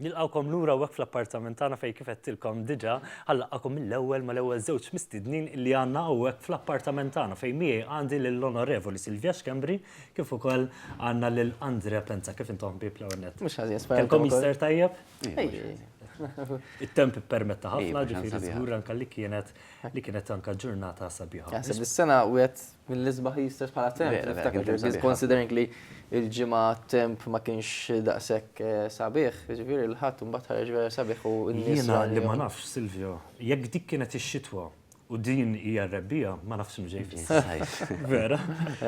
Nilqgħukom lura hawnhekk fl-appartament tagħna fejn kif għedtilkom diġà ħa nlaqqagħkom mill-ewwel mal-ewwel żewġ mistednin li għandna hawnhekk fl-appartament tagħna fejn miegħi għandi lill-Onorevoli Silvia Schembri kif ukoll għandna lil Andrea Penza. Kif intom ħbieb l-ewwel nett? Mhux ħażin, sperajt. Kellkom Easter tajjeb? It-temp ippermetta ħafna, ġifieri żgur anke li kienet li kienet anke ġurnata sabiħa. Naħseb is-sena wieħed Mill-isbaħ l-istess bħala temp. Vera, vera, kien temp sabiħ. Considering li l-ġimgħa temp ma kienx daqshekk eh, sabiħ, ġifieri l-ħadd imbagħad ħareġ vera sabiħ u n-nies. Jiena li ma nafx, Silvio, jekk dik kienet ix-xitwa u din hija r-rebbija, ma nafx mġej fis-sajf. Vera?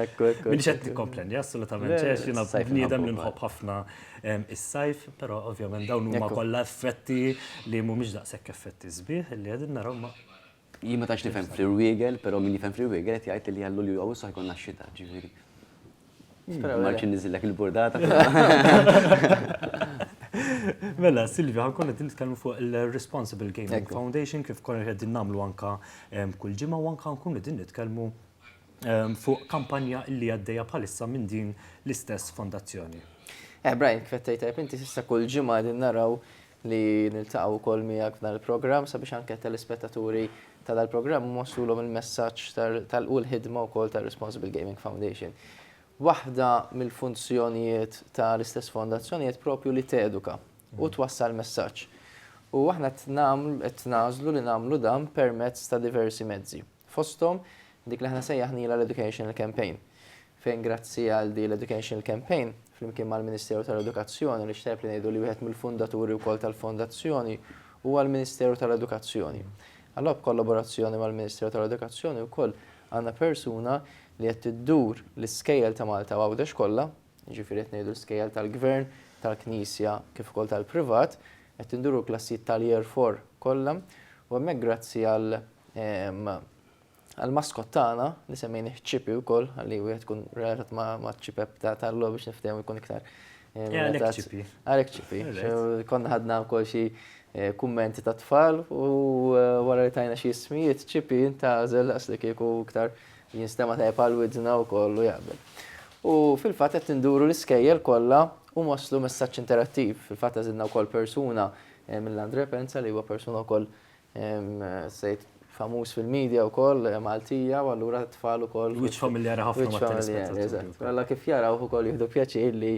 Ekku, ekku. Minix qed nikkomplendi, assolutament ċex, jiena bniedem li nħobb ħafna ehm, is-sajf, però ovvjament dawn huma kollha effetti li mhumiex daqshekk effetti sbieħ li qegħdin naraw ma' Jien ma tantx nifhem fl-irwiegel, però min jifhem fl-irwiegel qed jgħid li għal Lulju Awwissu ħajkonna x-xita, ġifieri. Marċi niżillek il-burdata. Mela, Silvio, ħankun qed nitkellmu fuq il-Responsible Gaming Foundation kif konna qegħdin nagħmlu anka kull ġimgħa u anka nkunu qegħdin nitkellmu fuq kampanja li għaddejja bħalissa minn din l-istess fondazzjoni. Eh, Brian, kif qed tgħid inti s'issa kull ġimgħa qegħdin naraw li niltaqgħu wkoll miegħek f'dan il-programm sabiex anke telespettaturi ta' dal-programm nwassulhom il-messaġġ tal u l-ħidma wkoll ta' Responsible Gaming Foundation. Waħda mill-funzjonijiet ta' l-istess fondazzjoni qed propju li teduka u twassal messaġġ. U aħna qed nagħmlu qed nażlu li nagħmlu dan permezz ta' diversi mezzi. fosthom dik li aħna sejjaħnilha l-educational campaign, fejn grazzi għal din l-educational campaign, flimkien mal-Ministeru tal-Edukazzjoni, li x'tajjeb li ngħidu li wieħed mill-fundaturi wkoll tal-Fondazzjoni huwa l-Ministeru tal-Edukazzjoni. Allura b'kollaborazzjoni mal-Ministeru tal-Edukazzjoni wkoll għandna persuna li qed iddur l-iskejjel ta' Malta u Għawdex kollha, jiġifieri qed ngħidu l-iskejjel tal-Gvern, tal-Knisja kif ukoll tal-privat, qed induru l-klassijiet tal-Year Four kollha u hemmhekk grazzi għal Għall-maskot tagħna, li semmejnih Chippy wkoll, ħalli wieħed ikun relatat ma' ċipep ta' tal-logħob biex niftehmu jkun iktar. Għalek Chippy. Għalek Chippy. Konna ħadna wkoll xi eh, kummenti ta' tfal u eh, wara li tajna xi ismijiet Chippy intażel għas li kieku iktar jinstema ta' għal widna u kollu jaqbel. U fil-fatt qed induru l-iskejjel kollha u moslu messaġġ interattiv. Fil-fatt għażilna wkoll persuna eh, mill-Andre Penza li huwa persuna wkoll Hemm sejt famuż fil-media wkoll Maltija u allura t-tfal ukoll. Wiċċ familjari ħafna mat-telespettaturi. Alla kif jarawh ukoll jieħdu pjaċir li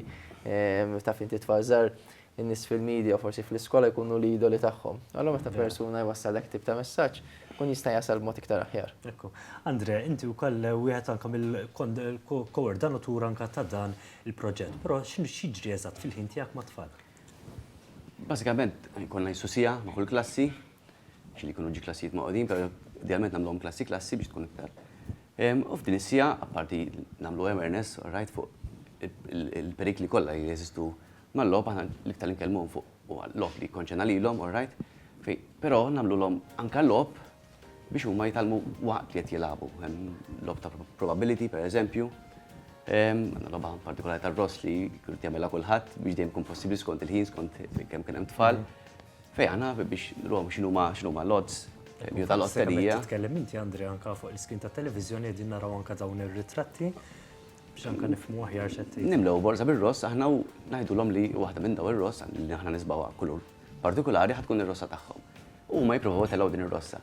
taf inti t-tfal żgħar in-nies fil-media u forsi fl-iskola jkunu l-idoli tagħhom. Allura meta persuna jwassal hekk tip ta' messaġġ, ikun jista' jasal b'mod iktar aħjar. Ekku. Andrea, inti wkoll wieħed anke mill-ko-ordinatur anke ta' dan il-proġett, però x'jiġri eżatt fil-ħin tiegħek mat-tfal? Bażikament jkollna jissu siegħa ma' kull klassi, xi li jkunu ġi klassijiet maqudin, però idealment nagħmluhom klassi klassi biex tkun iktar. U f'din is-siegħa, apparti nagħmlu awareness, rajt fuq il-perikli kollha li jeżistu mal-logħob, aħna l-iktar li nkellmuhom fuq huwa l-logħob li jikkonċerna lilhom, all right, però nagħmlulhom anke l-logħob biex huma jitgħallmu waqt li qed jilagħbu. Hemm logħob ta' probability, per eżempju, għandna logħba partikolari tar-ross li kien jagħmilha kulħadd biex dejjem kun possibbli skont il-ħin, skont kemm kien hemm tfal. Fej aħna biex nruhom x'inhuma x'inhuma l-odds jew tal-lotterija. Tkellem inti Andrea anka fuq l-iskin ta' televiżjoni qegħdin naraw anka dawn ir-ritratti biex anka nifhmu aħjar x'qed. Nimlew borza bir-ross aħna u ngħidulhom li waħda minn daw ir-ross li aħna nisbawha kulur partikolari ħatkun ir-rossa tagħhom. Huma jippruvaw itellgħu din ir-rossa.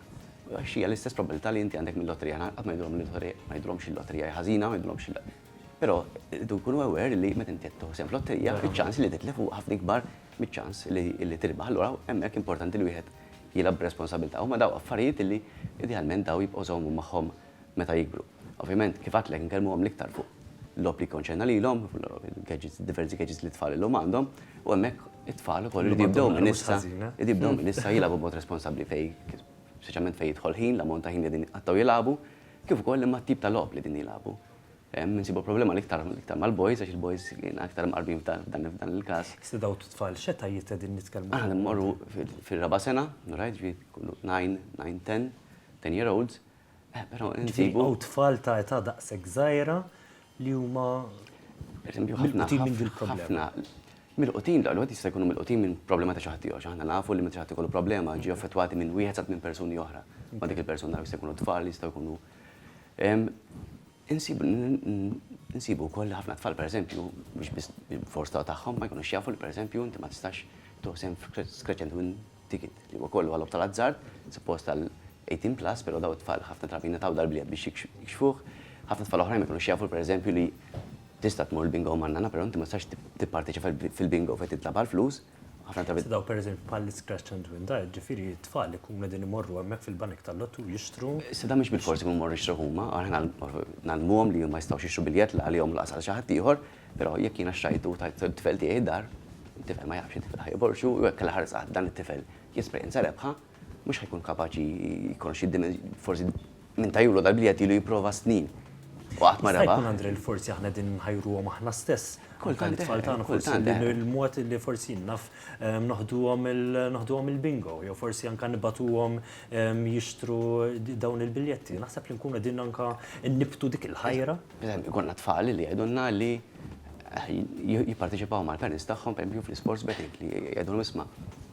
Għax hija l-istess probabilità li inti għandek mil-lotterija. Qatt ma jgħidulhom il-lotterija, ma jgħidulhomx il-lotterija hi ħażina, ma jgħidulhomx il-. Però irridu jkunu aware li meta inti qed tieħu sehem f'lotterija, iċ-ċans li titlef huwa ħafna ikbar miċ-ċans li tirbaħ. Allura hemmhekk importanti li wieħed jilgħab b'responsabilità. Huma daw affarijiet li idealment daw jibqgħu jżommu magħhom meta jikbru. Ovvjament, kif għedtlek, inkellmuhom l-iktar fuq logħob li jikkonċerna lilhom, gadgets, diversi gadgets li t-tfal illum għandhom, u hemmhekk it-tfal ukoll iridu jibdew minn issa, iridu jibdew minn issa jilagħbu b'mod responsabbli fejn, speċjalment fejn jidħol ħin, l-ammont ta' ħin li qegħdin jitqattgħu jilagħbu, kif ukoll li mat-tip ta' logħob li qegħdin jilagħbu. Hemm insibu l-problema l-iktar l-iktar mal-boys għax il-boys jiena aktar mqarbin f'dan f'dan il-każ. Iżda dawn it-tfal x'etajiet qegħdin nitkellmu? Aħna qegħdin immorru fir-raba' sena, right, ġifieri jkunu nine, nine, ten, ten year olds, Eh, però insibu. U tfal ta' età daqshekk żgħira li huma mill-qutin minn dil-problema. Mill-qutin l jista' jkunu mill-qutin minn problema ta' xaħti għax aħna nafu li meta xaħti kollu problema ġi affettwati minn wieħed sa minn persuni oħra. Ma dik il-persuna jista' jkunu tfal, jista' jkunu. Insibu wkoll ħafna tfal pereżempju biex forsta tagħhom ma jkunux jafu li pereżempju inti ma tistax toħsem skreċent minn ticket li huwa kollu għal-logħob tal-azzard, suppost għal 18 plus, però dawn it-tfal ħafna drabi jingħataw dal-bliet biex jikxfuh. Ħafna tfal oħrajn ma jkunux jafu pereżempju li tista' tmur il-bingo ma' nana, però inti ma tistax tipparteċipa fil-bingo fejn titlagħab għall-flus. Ħafna drabi. Dawn pereżempju bħall-iscratch and win dawn, jiġifieri t-tfal ikunu qegħdin imorru hemmhekk fil-banek tal-lottu jixtru. Issa dawn mhux bilfors ikunu jmorru jixtru huma, aħna ngħallmuhom li huma jistgħux jixtru biljett la għalihom u lanqas għal xi ħaddieħor, Però jekk jiena xtrajtu u tajt it-tifel tiegħi d-dar, it-tifel ma jafx li t-tifel ħa jborrxu u jekk l-aħħar żgħat dan it-tifel jesperjenza rebħa, mhux ħa jkun kapaċi jikkonoxxi d-dimensjoni, forsi min tajulu dal-biljett ilu jipprova s-snin u qatt ma rebaħ. Jista' jkun Andrè li forsi aħna qegħdin inħajruhom aħna stess, anke lit-tfal tagħna forsi l-mod li forsi naf noħduhom il-bingo jew forsi anke nibgħatuhom jixtru dawn il-biljetti. Naħseb li nkunu qegħdin anke nnibbtu dik il-ħajra. Pereżempju, ikollna tfal li jgħidulna li jipparteċipaw mal-parents tagħhom pereżempju fl-isports betting li jgħidulhom isma'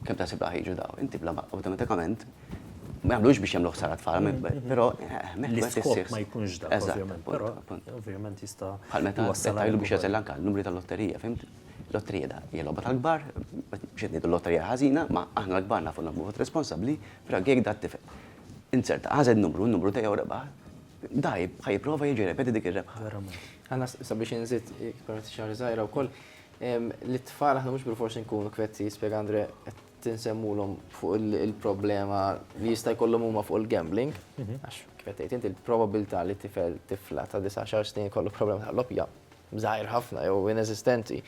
kemm taħseb li ħajġu daw. Inti bla awtomatikament ma jagħmlux biex jagħmlu ħsara tfal, però l-iskop ma jkunx dak ovvjament, però ovvjament jista' bħal meta jgħidlu biex jagħżel anke n-numri tal-lotterija, fimt? Lotterija da hija logħba tal-kbar, mhux qed ngħidu lotterija ħażina, ma aħna l-kbar nafu nagħmlu vot responsabbli, però jekk dat-tifel insert għażel numru, n-numru tiegħu rebaħ, Da ħa jipprova jiġi repeti dik ir-rebħa. Verament. Għanna sabiex inżid parti xi ħaġa żgħira wkoll li t-tfal aħna mhux bil-forsi nkunu kwetti spjega Andre qed tinsemmulhom fuq il-problema li jista' jkollhom huma fuq il-gambling. Mhm. Għax kif qed inti l-probabilità li tifel tifla ta' 19 snin kollu problema ta' loppja żgħir ħafna jew inesistenti.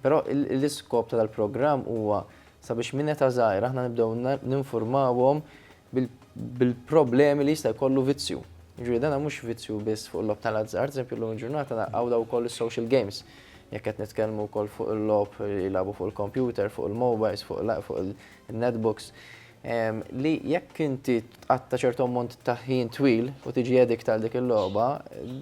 Però l-iskop tal-programm huwa sabiex minn eta' żgħira aħna nibdew ninfurmawhom bil-problemi li jista' jkollu vizzju. Jiġifieri dan mhux vizzju biss fuq il-logħob tal-azzard, pereżempju llum il-ġurnata naqgħu dawn ukoll is-social games. Jekk qed nitkellmu wkoll fuq il-logħob li jilagħbu fuq il-kompjuter, fuq il-mobiles, fuq il-netbooks, li jekk inti tqatta' ċertu ammont ta' ħin twil u tiġi addict għal dik il-logħba,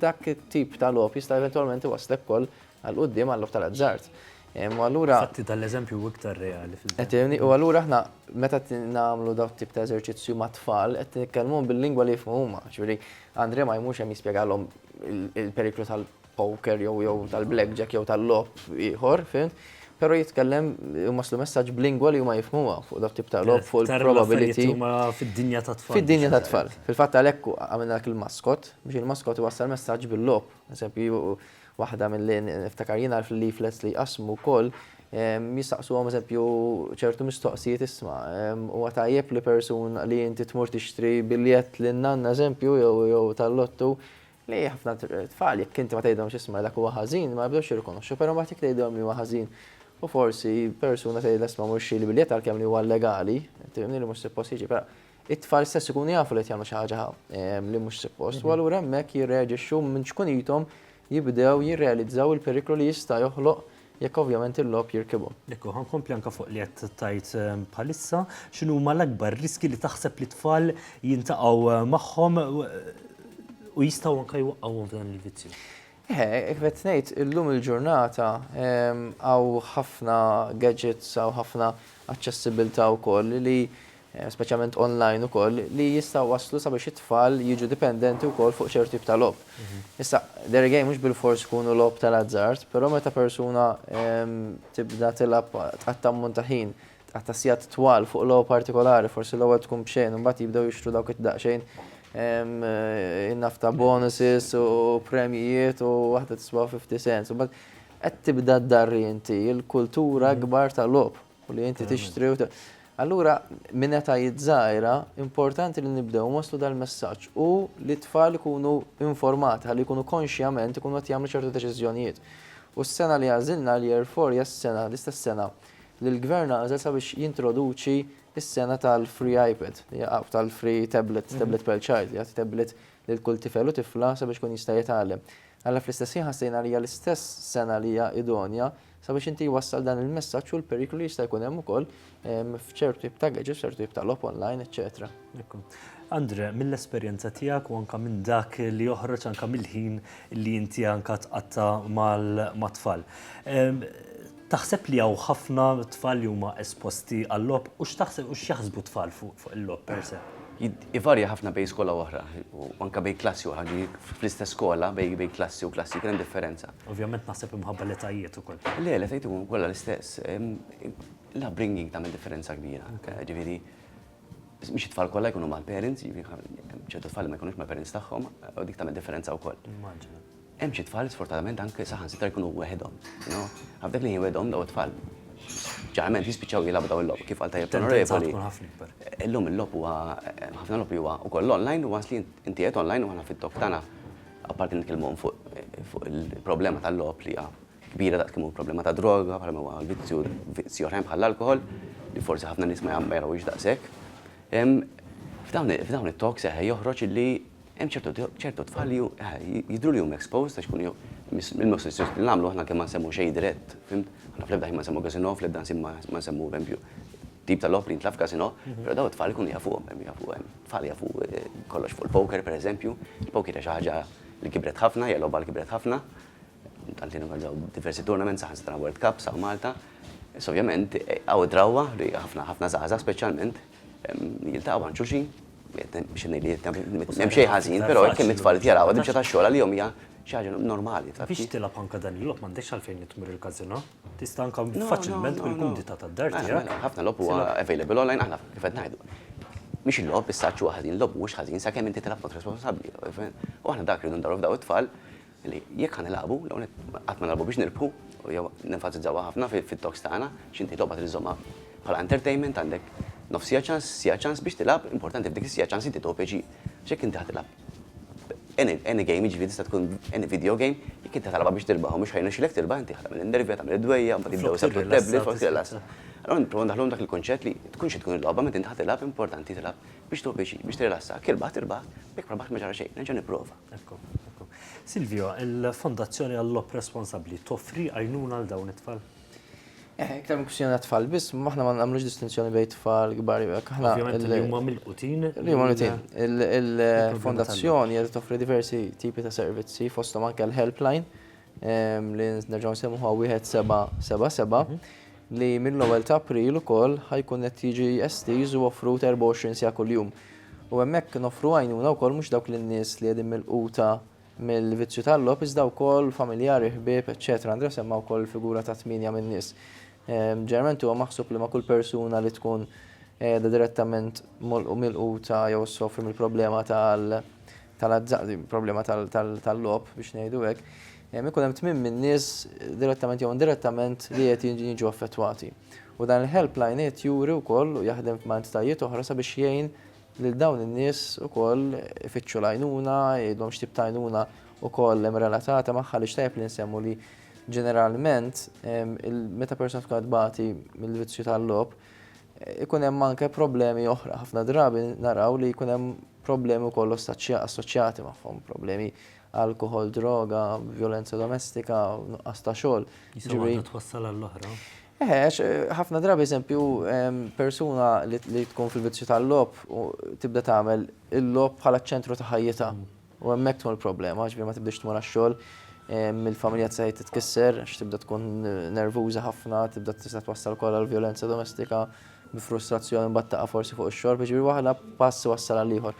dak it-tip ta' logħob jista' eventwalment iwasslek ukoll Għal quddiem għal-logħob tal-azzard. U allura. Fatti tal-eżempju hu iktar reali fil-verità. Qed tifhimni? U allura aħna meta qed nagħmlu dawn it-tip ta' eżerċizzju mat-tfal qed nitkellmuhom bil-lingwa li jifhmu huma. Ġifieri Andre ma jmurx hemm jispjegalhom il-periklu tal-poker jew jew tal-blackjack jew tal-logħob ieħor, fhimt? Però jitkellem u waslu messaġġ b'lingwa li huma jifhmuha fuq dawn it-tip ta' logħob fuq il-probability. Fid-dinja tat-tfal. Fid-dinja tat-tfal. Fil-fatt għalhekk għamilna dak il-maskot biex il-maskot iwassal messaġġ bil-logħob. Eżempju, Waħda milli niftakar jiena fil-leaflets li jqassmu wkoll jistaqsuhom eżempju ċertu mistoqsijiet isma' huwa tajjeb li persun li inti tmur tixtri biljett lin-nanna eżempju jew tal-lottu li ħafna tfal jekk inti ma tgħidhomx isma' dak huwa ħażin ma jibdewx jirrikonoxxu però mbagħad jekk tgħidilhom li huwa ħażin u forsi persuna tgħidilha isma' mhux xtri l-biljett għalkemm li huwa legali, inti fehmni li mhux suppost jiġi però it-tfal stess ikunu jafu li qed jagħmlu xi ħaġa li mhux suppost u allura hemmhekk jirreaġixxu minn ċkunithom jibdew jirrealizzaw il-periklu li jista' joħloq jekk ovvjament il-logħob jirkibhom. Jekk hu, ħa nkompli anke fuq li qed tgħid bħalissa, x'inhuma l-akbar riskji li taħseb li t-tfal jiltaqgħu magħhom u jistgħu anke jwaqqgħuhom f'dan il-vizzju? Eħe, kif qed ngħid, illum il-ġurnata hawn ħafna gadgets, hawn ħafna aċċessibbiltà wkoll li speċjalment online ukoll, li jistgħu jwasslu sabiex it-tfal jiġu dipendenti wkoll fuq ċertu tip ta' logħob. Issa, dare game mhux bilfors ikunu logħob tal-azzard, però meta persuna tibda tilgħab, tqatta' ammont ta' ħin, tqatta' sigħat twal fuq logħba partikolari, forsi l-ewwel tkun b'xejn u mbagħad jibdew jixtru dawk id-daqsxejn in-naf ta' bonuses u premjijiet u waħda tiswa' fifty cents, u mbagħad qed tibda ddarri inti l-kultura kbar tal-logħob. U li inti tixtri u Allura, minn età żgħira, importanti li nibdew waslu dal-messaġġ u li t-tfal ikunu informati ħalli jkunu konxjament ikunu qed jagħmlu ċertu deċiżjonijiet. U s-sena li għażilna l-Year Four hija s-sena, l-istess sena li l-Gvern għażel sabiex jintroduċi s-sena tal-free iPad, tal-free tablet, tablet per child, li jagħti tablet lil kull tifel u tifla sabiex ikun jista' jitgħallem. Alla fl-istess ħin ħassejna li hija l-istess sena li hija idonja Sabiex inti wassal dan il-messaġġ u l-periklu li jista' jkun hemm ukoll f'ċertu tip ta' gadgets, f'ċertu tip ta' logħob online, eċċetera. Ekku. Andre, mill-esperjenza tiegħek u anke minn dak li joħroġ anke mill-ħin li inti anke tqatta' mat-tfal. Taħseb li hawn ħafna tfal li huma esposti għal-logħob u x'taħseb u x'jaħsbu t-tfal fuq il-logħob per se? Ivarja ħafna bejn skola u oħra, u anke bejn klassi u oħra, anke fl-istess skola bejn klassi u klassi kien hemm differenza. Ovvjament naħseb imħabba l-etajiet ukoll. Le, l-etajiet huma kollha l-istess. L-upbringing tagħmel differenza kbira. Ġifieri, mhux it-tfal kollha jkunu mal-parents, ċertu tfal ma jkunux mal-parents tagħhom, u dik tagħmel differenza wkoll. Immaġina. Hemm xi tfal sfortunatament anke saħansitra jkunu weħidhom. F'dak li jien weħidhom daw it-tfal ġeneralment jispiċċaw jilagħbu daw il-logħob kif qal tajjeb l-onorevoli. Illum il-logħob huwa ħafna logħob li huwa wkoll online u once li inti qed online u aħna fit-talk tagħna apparti nitkellmu fuq il-problema tal-logħob li hija kbira daqs kemm hu problema ta' droga bħalma huwa l-vizzju vizzji oħrajn bħall-alkoħol li forsi ħafna nies ma jagħmlu daqshekk. F'dawn it-talks eħe joħroġ li Hemm ċertu tfal li jidhru li huma exposed għax ikunu mill-malnutrizzjoni li nagħmlu aħna anke ma nsemmu xejn dirett, fimt? Aħna fl-ebda ħin ma nsemmu casino, fl-ebda ħsieb ma nsemmu pereżempju tip ta' logħob li jintlagħab f'casino, però dawn it-tfal ikunu jafuhom, jafu hemm tfal li jafu kollox fuq il-poker pereżempju. Il-poker hija xi ħaġa li kibret ħafna, hija logħba li kibret ħafna. Tant li norganizzaw diversi tournaments, saħansitra World Cups hawn Malta. Issa ovvjament hawn id-drawwa li ħafna, ħafna żgħażagħ speċjalment Jiltaqgħu għand xulxin, xinni li hemm xejn ħażin, però hekk kemm it-tfal jaraw għad imxa tax-xogħol għalihom hija xi ħaġa normali. Biex tilgħab anke dan il-logħob m'għandekx għalfejn li tmur il-każino. Tista' anke faċilment bil-kumdità tad-dar tiegħek. Ħafna logħob huwa available online aħna kif qed ngħidu. Mhix il-logħob is-saġġ huwa ħażin, il-logħob mhuwiex ħażin sakemm inti tilgħab b'mod responsabbli. U aħna dak li rridu ndaru f'daw it-tfal Li jekk ħanilagħbu, l-ewwel nett qatt ma nilagħbu biex nirbħu, u jew nenfasizzawha ħafna fit-talks tagħna, x'inti logħba trid iżżommha bħala entertainment, għandek nofs siegħa ċans, siegħa ċans biex tilgħab, importanti f'dik is-siegħa ċans inti tieħu pjaċir. Għax jekk inti ħa tilgħab any any game, jiġifieri tista' tkun any video game, jekk inti ħa tilgħabha biex tirbah u mhux ħa jirnexxilek tirbah, inti ħa tagħmel in-nervi, ħa tagħmel id-dwejjaq, mbagħad jibdew isarrqu t-tablet, flok tirrilassa. Allura nipprova ndaħħluhom dak il-kunċett li tkun xi tkun il-logħba, meta inti ħa tilgħab, importanti tilgħab biex tieħu pjaċir, biex tirrilassa. Jekk irbaħt, irbaħt, jekk ma rbaħtx ma ġara xejn, nerġa' nipprova. Ekku, ekku. Silvio, il-Fondazzjoni għall-Logħob Responsabbli toffri għajnuna għal dawn it-tfal? Eh, iktar minn kwistjoni tfal biss, ma aħna ma nagħmlux distinzjoni bejn tfal kbar jew aħna. Ovvjament li huma mill-qutin. Li huma mill-qutin. Il-fondazzjoni qed toffri diversi tipi ta' servizzi fosthom anke l-helpline li nerġgħu nsemmuha wieħed seba' seba' seba' li mill-ewwel ta' April ukoll ħajkun qed jiġi estiż u offrut 24 siegħa kuljum. U hemmhekk noffru għajnuna wkoll mhux dawk lin-nies li qegħdin milquta mill-vizzju tal-logħob iżda wkoll familjari, ħbieb, eċċetera. Andrea semma wkoll il-figura ta' tmienja minn nies. Ġeneralment huwa maħsub li ma' kull persuna li tkun qiegħda direttament milquta jew issofri mill-problema tal tal-azzard, problema tal-logħob biex ngħidu hekk, ikun hemm tmiem min-nies direttament jew indirettament li qed jiġu affettwati. U dan il-helpline qed juri wkoll u jaħdem ma' entitajiet oħra sabiex jgħin lil dawn in-nies ukoll ifittxu l-għajnuna, jgħidulhom x'tip ta' għajnuna wkoll hemm relatata magħha għaliex tajjeb li nsemmu li ġeneralment meta persuna tkun qed tbati mill-vizzju tal-logħob ikun hemm anke problemi oħra. Ħafna drabi naraw li jkun hemm problemi wkoll assoċjati magħhom, problemi alkoħol, droga, vjolenza domestika, nuqqas ta' xogħol. Jiġifieri waħda twassal għall-oħra. Eħe, għax ħafna drabi eżempju persuna li tkun fil-vizzju tal-logħob tibda tagħmel il-logħob bħala ċ-ċentru ta' ħajjitha. U hemmhekk tkun il-problema, ġifieri ma tibdiex tmur għax-xogħol, il-familja se titkisser għax tibda tkun nervuża ħafna, tibda tista' twassal ukoll għall-vjolenza domestika. bi frustrazzjoni mbagħad taqa' forsi fuq ix-xorb, jiġifieri waħda pass iwassal għal ieħor.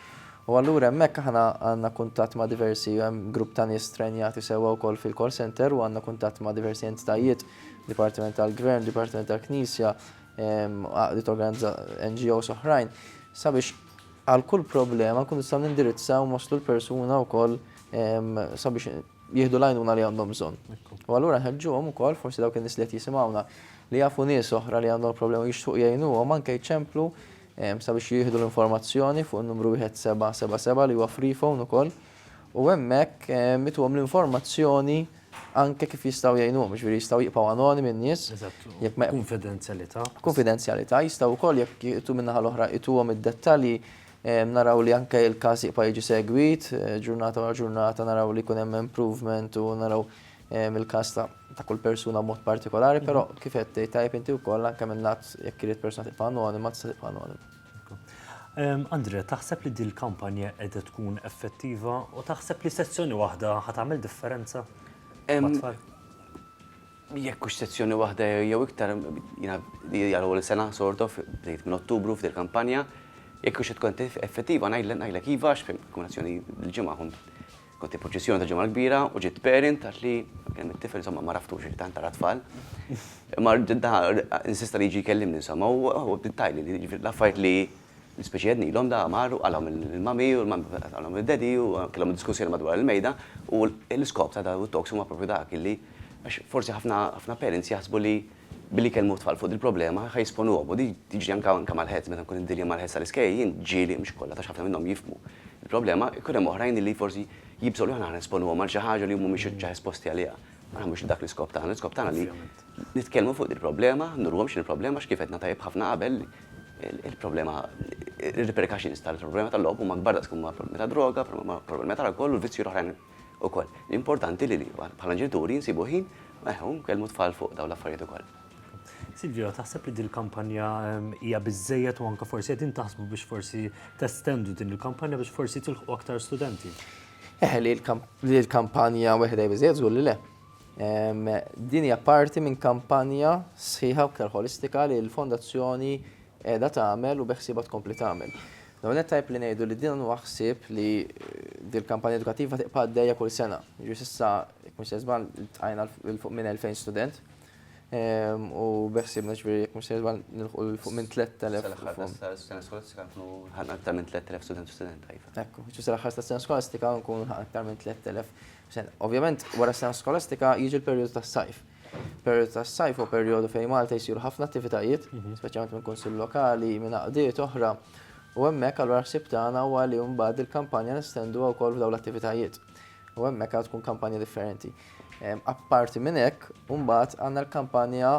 U allura hemmhekk aħna għandna kuntatt ma' diversi, hemm grupp ta' nies trenjati sewwa wkoll fil-call center u għandna kuntatt ma' diversi entitajiet, dipartiment tal-gvern, dipartiment tal-knisja, għaqdiet NGOs oħrajn, sabiex għal kull problema nkunu nistgħu nindirizzaw u nwasslu l-persuna wkoll sabiex jieħdu l-għajnuna li għandhom bżonn. U allura nħeġġuhom ukoll forsi dawk in-nies li qed jisimgħuna li jafu nies oħra li għandhom problema u jixtuq jgħinuhom anke jċemplu ehm, sabiex jieħdu l-informazzjoni fuq in-numru 1777 li huwa free phone ukoll u hemmhekk ehm, mituhom l-informazzjoni anke kif jistgħu jgħinuhom, ġifieri jistgħu jibqgħu anoni minn nies. Jekk ma konfidenzjalità. Konfidenzjalità jistgħu wkoll jekk jitu minnaħa l-oħra ituhom id-dettalji Naraw li anke il-każ jibqa' jiġi segwit, ġurnata wara ġurnata naraw li jkun hemm improvement u naraw il-każ ta' kull persuna b'mod partikolari, però kif qed tgħid tajjeb inti wkoll anke min-naħat jekk irid persuna tibqa' anonima tista' tibqa' anonima. Andrea, taħseb li din il-kampanja qiegħda tkun effettiva u taħseb li sezzjoni waħda ħa tagħmel differenza mat-tfal? Jekk hux sezzjoni waħda jew iktar, jiena li għal ewwel sena sort of, bdejt minn Ottubru f'dil kampanja, jekk hux se tkun effettiva ngħidlek iva għax fil-kombinazzjoni dil-ġimgħa kont kont il-proċessjoni tal-Ġimgħa l-Kbira u ġiet parent għadt li kelm it-tifel insomma ma raftux jien tant ara tfal. Imma insista li jiġi jkellimni insomma u hu bdiet tgħidli li l-affarijiet li L-ispeċi jednilhom da mar u qalhom il-mami u l-mami qalhom id-daddy u kellhom id-diskussjoni madwar il-mejda u l-iskop ta' dawn it-talks huma proprju dak illi għax forsi ħafna ħafna parents jaħsbu li billi jkellmu t-tfal fuq dil-problema ħa jesponuhom u din tiġri anke anke mal-heads meta nkun indilja mal-heads tal-iskejjel jien ġieli mhux kollha tax ħafna minnhom jifhmu l-problema jkun hemm oħrajn illi forsi jibżgħu li aħna ħa nesponuhom għal xi ħaġa li huma mhumiex ġa esposti għaliha. Ma naħmux li dak l-iskop tagħna, l-iskop tagħna li nitkellmu fuq dil-problema, nurhom x'inhi l-problema għax kif għedna tajjeb ħafna qabel Il-problema, ir-repercussions tal-problema tal-logħob huma kbar daqs kemm huma problemi ta' droga, problemi ta' alkoħol u vizzji l-oħrajn ukoll. L-importanti li bħala ġenituri nsibu ħin u nkellmu t-tfal fuq dawn l-affarijiet ukoll. Silvio, taħseb li din il-kampanja hija biżżejjed u anke forsi qegħdin taħsbu biex forsi testendu din il-kampanja biex forsi tilħqu aktar studenti? Eħe, li l-kampanja weħda hija biżżejjed żgur li le. Din hija parti minn kampanja sħiħa u aktar ħolistika li l-Fondazzjoni qiegħda tagħmel u beħsiebha tkompli tagħmel. L-ewwel nett tajjeb li ngħidu li din huwa ħsieb li dil-kampanja edukattiva tibqa' għaddejja kull sena. Jiġifieri s'issa, jekk mhux se żball, iltqajna lil fuq minn 2,000 student u beħsiebna jiġifieri jekk mhux se żball nilħqu lil fuq minn 3,000. Sal-aħħar tas-sena skolastika nkunu lħaqna aktar minn 3,000 student u studenta, iva. Ekku, jiġifieri sal-aħħar tas-sena skolastika nkunu lħaqna aktar minn 3,000 Ovvjament, wara s-sena skolastika jiġi l-perjodu tas-sajf. Perjodu tas-sajf u perjodu fejn Malta jsiru ħafna attivitajiet, mhm. speċjalment minn kunsill lokali, minn għaqdiet oħra. U hemmhekk allura ħsieb tagħna huwa li mbagħad il-kampanja nestenduha wkoll f'dawn l-attivitajiet. U hemmhekk għad tkun kampanja differenti. Apparti minn hekk, mbagħad għandna l-kampanja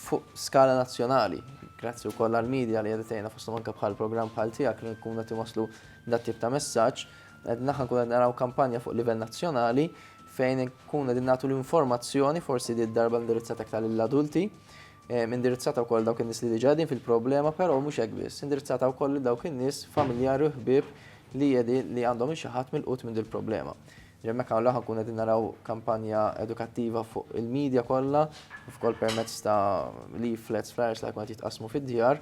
fuq skala nazzjonali. Grazzi wkoll għall-medja li qed tgħinna fosthom anke bħal programm bħal tiegħek li nkunu qed iwasslu dat tip ta' messaġġ Qegħdin aħna nkunu qed naraw kampanja fuq livell nazzjonali fejn nkunu qegħdin nagħtu l-informazzjoni forsi di darba indirizzata aktar lill-adulti, eh, indirizzata wkoll dawk in-nies li diġà qegħdin fil-problema, però mhux hekk biss, indirizzata wkoll lil dawk in-nies familjari u ħbieb li qegħdin li għandhom xi ħadd mill-qut minn dil-problema. Ġemmek għawla ħankun qegħdin naraw kampanja edukattiva fuq il-medja kollha, f'kol permezz ta' leaflets, flyers li ħakun qed jitqasmu fid-djar,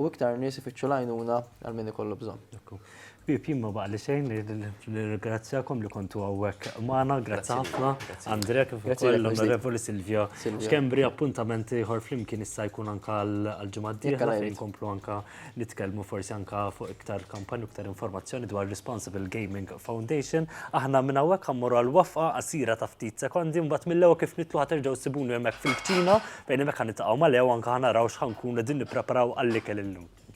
U iktar nies ifittxu l-għajnuna għal min ikollu bżonn. Ekku. Bib, jien ma baqgħli xejn ngħid nirringrazzjakom li kontu hawnhekk magħna. Grazzi ħafna. Andrea kif ukoll l-Onorevoli Silvio. X'kembri appuntament ieħor flimkien issa jkun anka għall-ġimgħa d-dieħla fejn inkomplu anka nitkellmu forsi anka fuq iktar kampanji u iktar informazzjoni dwar Responsible Gaming Foundation. Aħna minn hawnhekk ħammorru għal waqfa qasira ta' ftit sekondi mbagħad mill-ewwel kif nitlu ħa terġgħu ssibuni hemmhekk fil-kċina Bejn hemmhekk ħa niltaqgħu ma' Leo anke ħa naraw x'ħa nkunu qegħdin nippreparaw għall-ikel illum.